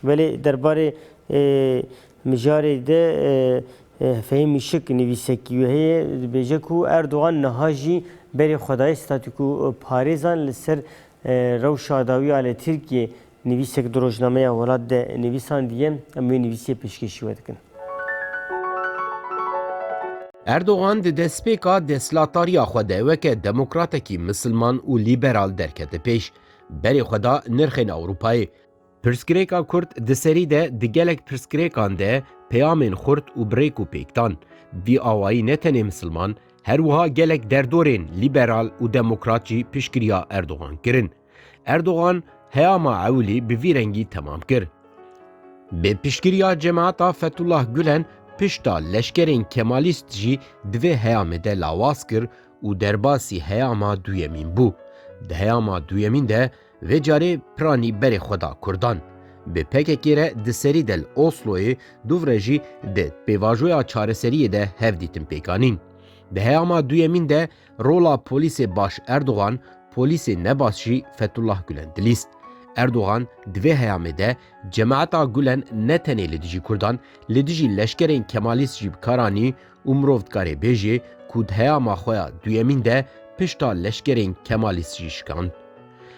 Belê derbarê mijarê de Fehîm Mîşik nivîsekî wê heye dibêje ku Erdogan niha jî berê xwe daye statûkoparêzan li ser rewşa dawî ya li Tirkiyê. Nivîsek di rojnameya welat de nivîsandiye, em wê nivîsiyê pêşkêşî we dikin. Erdogan di destpêka destlatariya xwe de weke demokratekî misilman û lîberal derkete pêş, berê xwe da nirxên Ewropayê, Pirsgirêka kurd di serî de di gelek pirsgirêkan de peyamên xurt û bi rêk û pêk dan. Vî awayî ne tenê misilman, her wiha gelek derdorên lîberal û demokrat jî piştgiriya Erdogan kirin. Erdogan heyama ewilî bi vî rengî temam kir. Bi piştgiriya cemaeta Fethullah Gulen pişta leşkerên Kemalîst jî di vê heyamê de lawaz kir û derbasî heyama duyemîn bû. Di heyama duyemîn de Vê carê piranî berê xwe da kurdan. Bi pkk re di serî de li Osloyê dûv re jî di pêvajoya çareseriyê de hev dîtin pêk anîn. Di heyama duyemîn de rola polîsê baş Erdogan, polîsê nebaş jî Fethullah Gulen dilîst. Erdogan di vê heyamê de Cemaeta Gulen ne tenê li dijî kurdan, li dijî leşkerên kemalîst jî bi kar anî û mirov dikarê bêjê ku di heyama xwe ya duyemîn de pişta leşkerên Kemalîst jî şikand.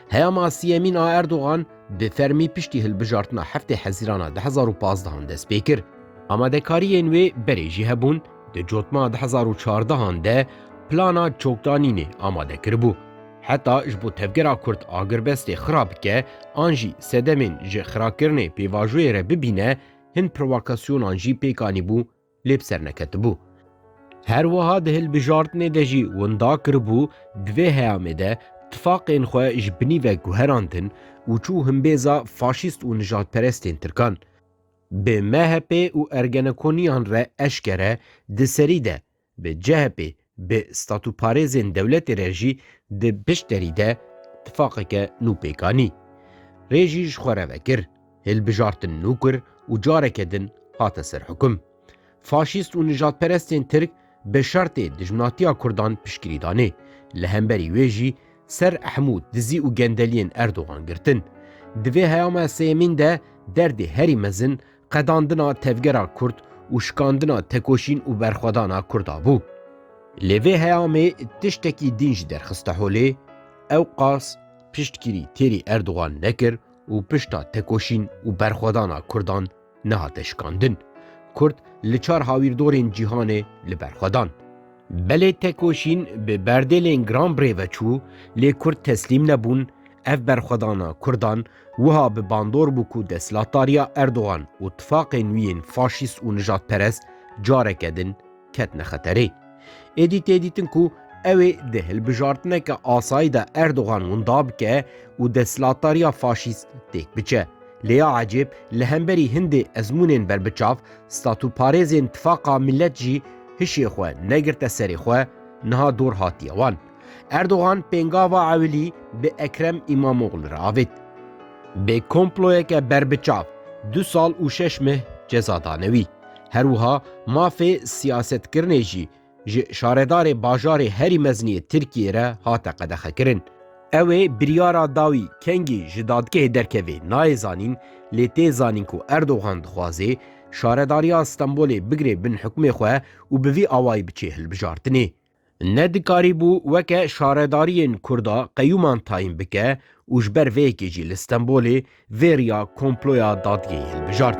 Heyama siyemîn a Erdogan bi fermî piştî hilbijartina heftê hezîrana du hezar û pazdeh an dest pê kir. Amadekariyên wê berê jî hebûn, di cotma du hezar û çardeh an de plana çokdanînê amade kiribû. Heta ji bo tevgera kurd agirbestê xira bike an jî sedemên ji xirakirinê pêvajoyê re bibîne, hin provakasyonan jî pêk anîbû lê bi ser neketibû. Her wiha di hilbijartinê de jî winda kiribû di vê heyamê de tifaqên xwe ji binî ve guherandin û çû himbêza faşîst û nijadperestên tirkan. Bi MHPê û Ergenekoniyan re eşkere di serî de bi CHPê Bi statûparêzên dewletê re jî di piştderî de tifaqeke nû pêk anî. Rê jî ji xwe re vekir. Hilbijartin nû kir û careke din hate ser hukum. Faşîst û nijadperestên Tirk bi şertê dijminatiya Kurdan piştgirî danê. Li hemberî wê jî ser hemû dizî û gendeliyên Erdogan girtin. Di vê heyama sêyemîn de derdê herî mezin qedandina tevgera Kurd û şikandina tekoşîn û berxwedana Kurda bû. Lê vê heyamê tiştekî dîn jî derxiste holê, ewqas piştgirî têrî Erdogan nekir û pişta tekoşîn û berxwedana Kurdan nehate şikandin. Kurd li çar hawîrdorên cîhanê li ber xwe dan. Belê tekoşîn bi berdêlên giran bi rê ve çû lê kurd teslîm nebûn, ev berxwedana kurdan wiha bi bandor bû ku destlatariya Erdogan û tifaqê nû yên faşîst û nijadperest careke din ketine xeterê. Êdî tê dîtin ku ew ê di hilbijartineke asayî de Erdogan winda bike û destlatariya faşîst têk biçe. Lê ya ecêb li hemberî hindê ezmûnên berbiçav, statûparêzên Tifaqa Millet jî hişê xwe negirte serê xwe, niha dor hatiye wan. Erdogan pêngava Ewilî bi Ekrem Îmamoglû re avêt. Bi komployeke berbiçav du sal û şeş meh ceza dane wî. Her wiha mafê siyasetkirinê jî ji şaredarê bajarê herî mezinê yê Tirkiyeyê re hate qedexekirin. Ew ê biryara da wî kengî ji dadgehê derkeve nayê zanîn, lê tê zanîn ku Erdogan dixwaze Şaredariya Stenbolê bigire bin hukmê xwe û bi vî awayî biçe hilbijartinê. Ne dikarîbû weke şaredariyên Kurd a qeyûman tayîn bike û ji ber vê yekê jî li Stenbolê vê riya komploya dadgehê hilbijart.